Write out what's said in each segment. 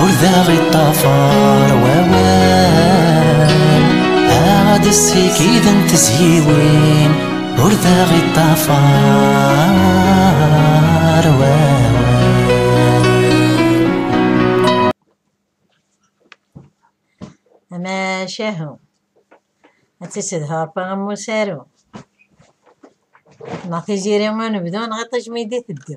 Ur d aɣ-iṭṭafar wawal Ad ssikiden tezyiwin Ur d aɣ-iṭṭafar wawal Amacahu Ad tisedha Ṛebbi am usaru neɣ tiziri ur nebdu neɣ iṭij mi d-iteddu.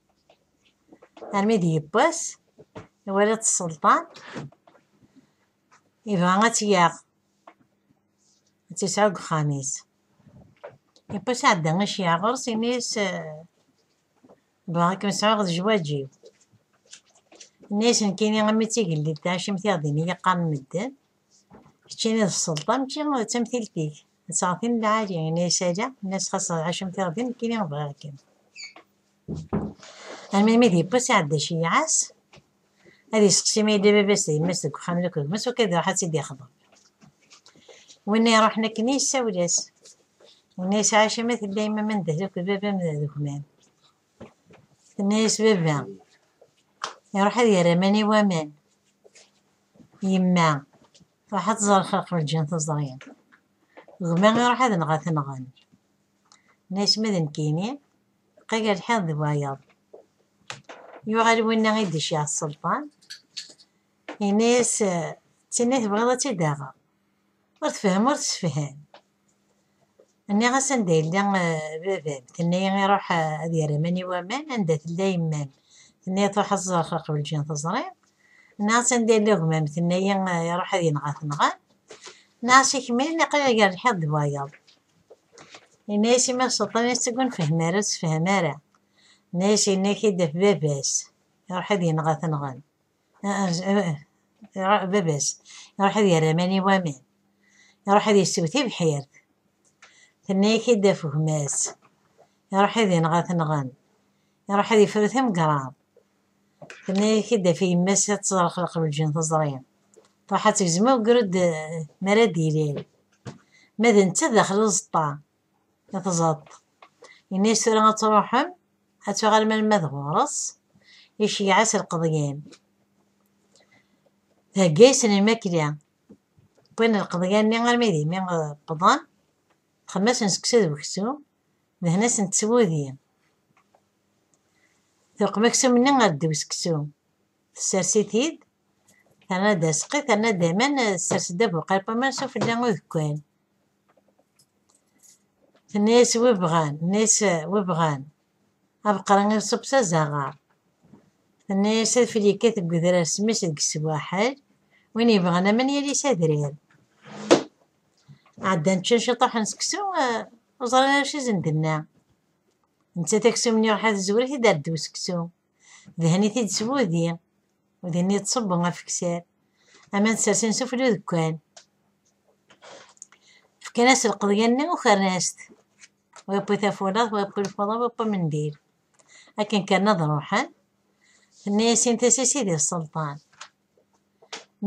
armi d yewwas iwala-tt sselṭan yebɣa ad tt-yaɣ ad tt-yesɛu deg uxxam-is yewwas iɛedda iceyyeɛ ɣer-s ini-as bɣiɣ ad kem-sɛuɣ d jwaǧi-w ini-as nekkini am i d tigellilt acimi tiɣdin i yi-qqaren medden Keččini d sselṭa mačči d tamtilt-ik. Ad taɣ tin n lɛali, yenna Ɛisa ala, yenna-as xas ad ɛacum tiɣdi nekkini bɣiɣ-kem. Armi mi d yewwas iɛedda ceyyeɛ-as, ad yesseqsi ma yella baba-s d yemma-s deg uxxam nekk gma-s wakka ad iruḥ ad tt-id-yexḍeb. Winna iruḥen akken i yessawel-as. Yenna-as ɛaca ma tella yemma ma ndeh akked baba-m d gma-m. Tenna-as baba iruḥ ad yerr aman i waman. Yemma truḥ ad tẓer xerq lǧan teẓri. Gma iruḥ ad nɣa tenɣen. Nes ma d nekkini qig lḥiḍ d wayeḍ. Yuɣal winna i d-iciɛ sselṭan. Yenna-yas, d tinna i tebɣiḍ ad tt-id-aɣeɣ. Ur tefhem ur tessefhem. Nniɣ-as anda yella baba-m, tenna-yi iruḥ ad yerr aman i waman anda tella yemma-m, tenna-yi truḥ ad teẓer xir qbel ǧǧin teẓri, nniɣ-as anda yella gma-m, tenna-yi iruḥ ad yenɣ at nɣan, nniɣ-as i kemm ilin aql-i gar lḥiḍ d wayeḍ, yenna-as i mass Uṭan i as-tt-id ur nfehhem ara ur tessefhem ara, tenna-as yenna-ak-id ɣef baba-s, iruḥ ad yenɣ at nɣan. baba-s iruḥ ad yerr aman i waman iruḥ ad yessew tibḥirt tenna-yak-id af gma-s iruḥ ad ineɣ ad t-nɣen iruḥ ad yefru timgraḍ tenna-yak-id af yemma-s ad tẓer xelq lǧen teẓri truḥ ad tegzem ugrud mi ara d-yilin ma d netta daxel uzeṭṭa tẓeṭṭ. Yenna-yas tura ad truḥem, ad tuɣalem alemma d ɣur-s, iceyyeɛ-as lqeḍyan. Thegga-yasen lmakla, wwin lqeḍyan-nni armi d imi wwḍen, txemma-sen seksu d weksum, dehna-sen ttwudi. Tuqem aksum-nni ar ddew seksu, tessers-it-id, terna-d asqi, terna-d aman, tessers-d abuqal n waman s ufella udekkan. Tenna-yas wi bɣan, tenna-yas wi bɣan, abeqra iṣubb s azaɣar. Tenna-yas adfel yekkat deg udrar s mmi-s deg swaḥel, win yebɣan aman yal-is adrar. Ɛeddan ččan ciṭuḥ n seksu, ur ẓrin ara acu i sen-tenna. Nettat aksum-nni iruḥ ad tezwir, i t-id-err ddaw seksu. Dhen-it-id s wudi, u dinna yettṣubbu afekser. Aman ssersen sufella udekkan. Fkan-as lqedya-nni ukren-as-t. Wa yewwi tafuleḍt, wa yewwi lfuḍa, wa yewwi amendil. Akken kan ad ruḥen, tenna-yasin tasa sidi sselṭan.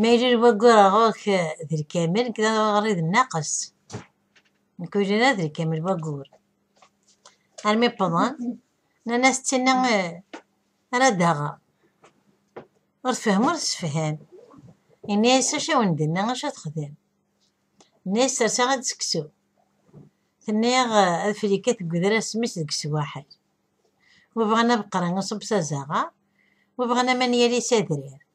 Ma yili lwaggur ɣur-k d lkamel, nekk d aɣri d nnaqes. Nekk ur yelli ara d lkamel waggur. Armi wwḍen, Nana-s d-tenna, Ara d-aɣeɣ. Ur tefhem ur tessefham. Yenna-yas, Acu i wen-d-tenna, acu ad texdem? Tenna-yas, Serseɣ-d seksu. Tenna-yaɣ, Adfel yekkat deg udrar smis deg swaḥel. Wi bɣan abeqri iṣubb s azaɣar, wi bɣan aman yal-is adrar.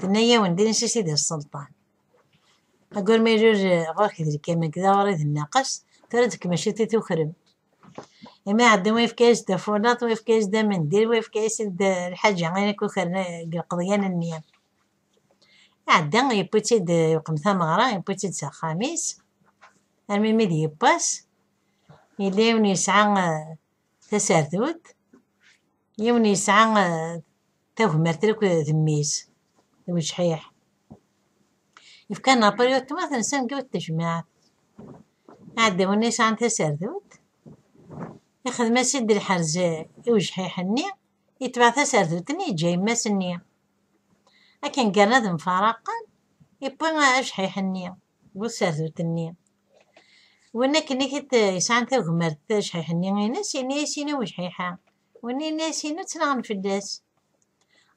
Tenna-yawen, d insis i d sselṭan. Agar ma yella ɣur-k d lkam nekk d aɣrib d nnaqas, terriḍ deg tmacint i tukrem. Imi iɛedda wa yefka-as d afulaṭ, wa yefka-as d amendil, wa yefka-as d lḥaǧa ayen akk ukren deg lqeḍyan-nni. Iɛedda yewwi-tt-id yuqem tameɣra, yewwi-tt-id s axxam-is, armi mi d-yewwas, yella yiwen yesɛa Taserdut, yiwen yesɛa eh, tagmert akk d mmi-s, d wejḥiḥ. Ifkan apṛyuḍ n tmurt-nsen deg yiwet tejmaɛt. Iɛdawen-nni sɛan taserdut, ixdem-as-id lḥerz i wejḥiḥ-nni, itbeɛ taserdut-nni, yeǧǧa yemma-s-nni. Akken gganen ad mfaraqen, iwwi ajḥiḥ-nni bu tserdut-nni. Win akken i t-id-yesɛan tagmert tajḥiḥ-nni ines, yenna-yas ini i wejḥiḥ-a. Win yenna-yas inu, ttnaɣen fell-as.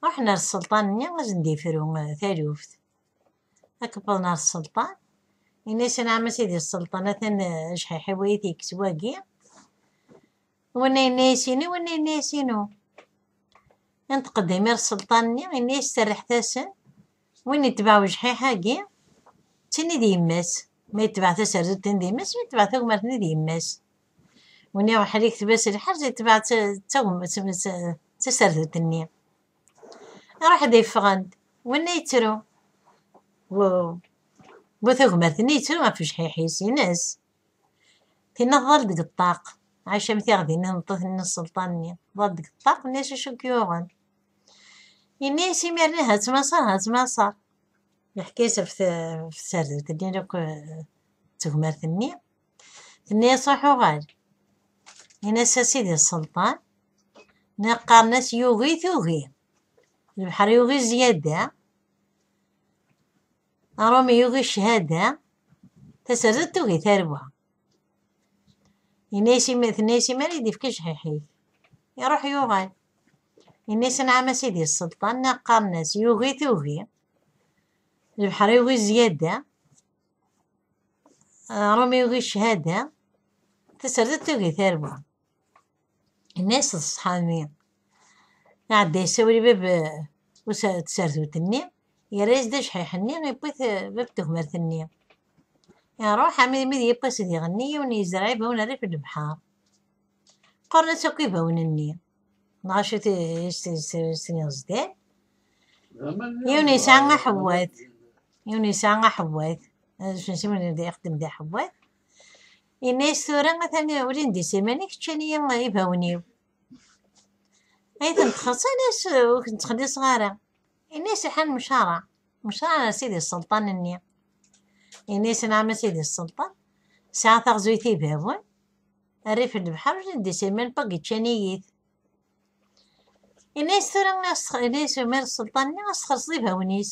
Ruḥen ar sselṭan-nni a sen-d-yefru taluft. Akken wwḍen ar sselṭan, yenna-yas, Nɛam a sidi sselṭan, atan ajḥiḥ-iw i t-yekkes wagi. Winna yenna-yas inu, winna yenna-yas inu. Inṭeq-d imir sselṭan-nni, yenna-yas serreḥet-asen. Win itbeɛ wejḥiḥ-agi, d tin i d yemma-s. Ma itbeɛ taserdunt-nni d yemma-s, ma itbeɛ tagmert-nni d yemma-s. Win i uḥric tebɛes lḥerz, itbeɛ taserdunt-nni. Iruḥ ad yeffeɣ-d, winna yettru. Bu tagmert-nni yettru ɣef wejḥiḥ-is, yenna-as, Tinna tḍall deg ṭṭaq. Ɛica am tiɣdi n tmeṭṭut-nni n ṣṣelṭan-nni, tḍall deg ṭṭaq, tenna-as acu i k-yuɣen. Yenna-as imir-nni ha ttmaṣar, ha ttmaṣar. Yeḥka-as ɣef tserdut-nni akk d tegmert-nni. Tenna-as ruḥ uɣal. Yenna-as a sidi ṣṣelṭan, nni qqaren-as yugi tugi. Lebḥer yugi zzyada. Arum yugi ccahada, taserdudt tugi tarwa. Yenna-yas tenna-yas imal i d-ifka jḥiḥit. Iruḥ yuɣal. Yenna-yas nɛam a sidi sselṭan neɣ qqaren-as yugi tugi. Lebḥer yugi zzyada. Arum yugi ccahada, taserdudt tugi tarwa. Ini-as d ṣṣḥani. Iɛedda yessawel i bab eh, tsertut-nni, yerra-as-d ajḥiḥ-nni, yewwi-t eh, bab tegmert-nni. Iruḥ armi d imi d yiwwas d iɣenni yiwen yezreɛ ibawen rrif n lebḥer. Qqaren-as akk ibawen-nni. Neɣ acu s-ten-iɣezdan? Yiwen yesɛa aḥewwat. Yiwen yesɛa aḥewwat. Ad s-nsimen ixeddem d aḥewwat. Yenna-yas tura atan ur indis iman-ik ččan-iyi ibawen-iw. Ay ten-txelleṣ ini-as ur kent-ttxelliṣeɣ ara. Ini-as iḥan mcara. Mcara a sidi sselṭan-nni. Ini-as naam a sidi sselṭan. Sɛa taɣzuyt ibawen. Rrif n lebḥer ur indis iman pak iččan-iyi-t. Ini-as tura ini-as umar sselṭan-nni as txelleṣeḍ ibawen-is.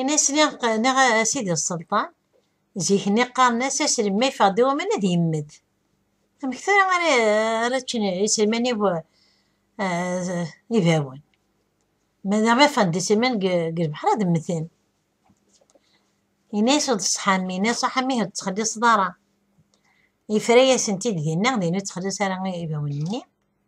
Ini-as niɣ niɣ a sidi sselṭan, zik-nni qqaren-as aslem ma yeffeɣ-d i waman ad yemmet. Amek tura ara ara ččen iselman-iw ibawen? Ma d ma ffɣen-d iselman deg lebḥer ad mmten. Ini-as ur d-ṣeḥḥam, ini-as a ḥammi ur tettxelliṣeḍ ara. Yefra-yasen-tt-id dinna, din ur tettxelliṣ ara ibawen-nni.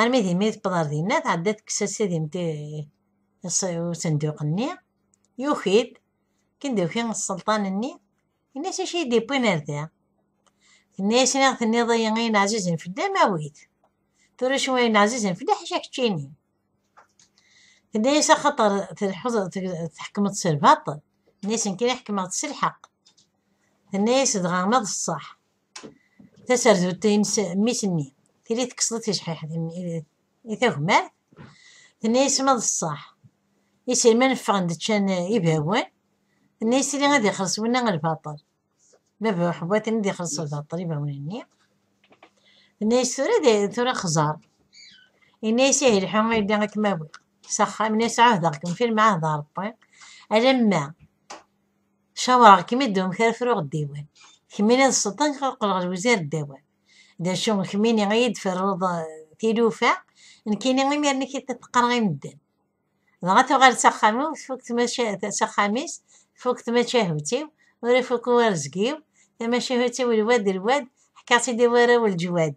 armi d imi tewweḍ ar dinna tɛedda tekkes asidimt i usenduq-nni yuki-d kin d-yuki sselṭan-nni ini-as acu i d-iwwin ar da tenna-as ini tenniḍ-iyi ayen ɛzizen fell-am awi-t tura cwi ayen ɛzizen fell-i ḥaca keččini tenna-as axaṭer telḥuḍ tḥekmeḍ s lbaṭel tenna-as nekk ḥekmeɣ-d s lḥeqq tenna-as dɣa ma d ṣṣeḥ taserdut-ines mmi-s-nni. Tili tekkseḍ tijḥiḥ i tagmart, tenna-yas ma d ṣṣeḥ. Iselman ffɣen-d ččan ibawen, tenna-yas tili ad ixelleṣ winna lbaṭel. Baba uḥewwa tili ad ixelleṣ lbaṭel ibawen-nni. Tenna-yas tura tura xẓer. Yenna-yas ihi lḥu a yelli ad kem-awiɣ s axxam, yenna-yas ɛuhdeɣ-kem firma ɛuhdeɣ Rebbi alamma Cawreɣ-kem i d-umk ara fruɣ ddiwan. Kemmini ad ṣṣeḍḍeɣ ad qqleɣ lwizar ddawan. D acu kemmini i yi-d-ferruḍ tilufa, nekkini imir-nni i t-id-qqareɣ i medden. Dɣa tuɣal s axxam-iw, tfuk s axxam-is, tfuk tmacahut-iw, ur ifuk urzg-iw, tamacahut-iw lwad d lwad, ḥkiɣ-tt-id i warraw n leǧwad.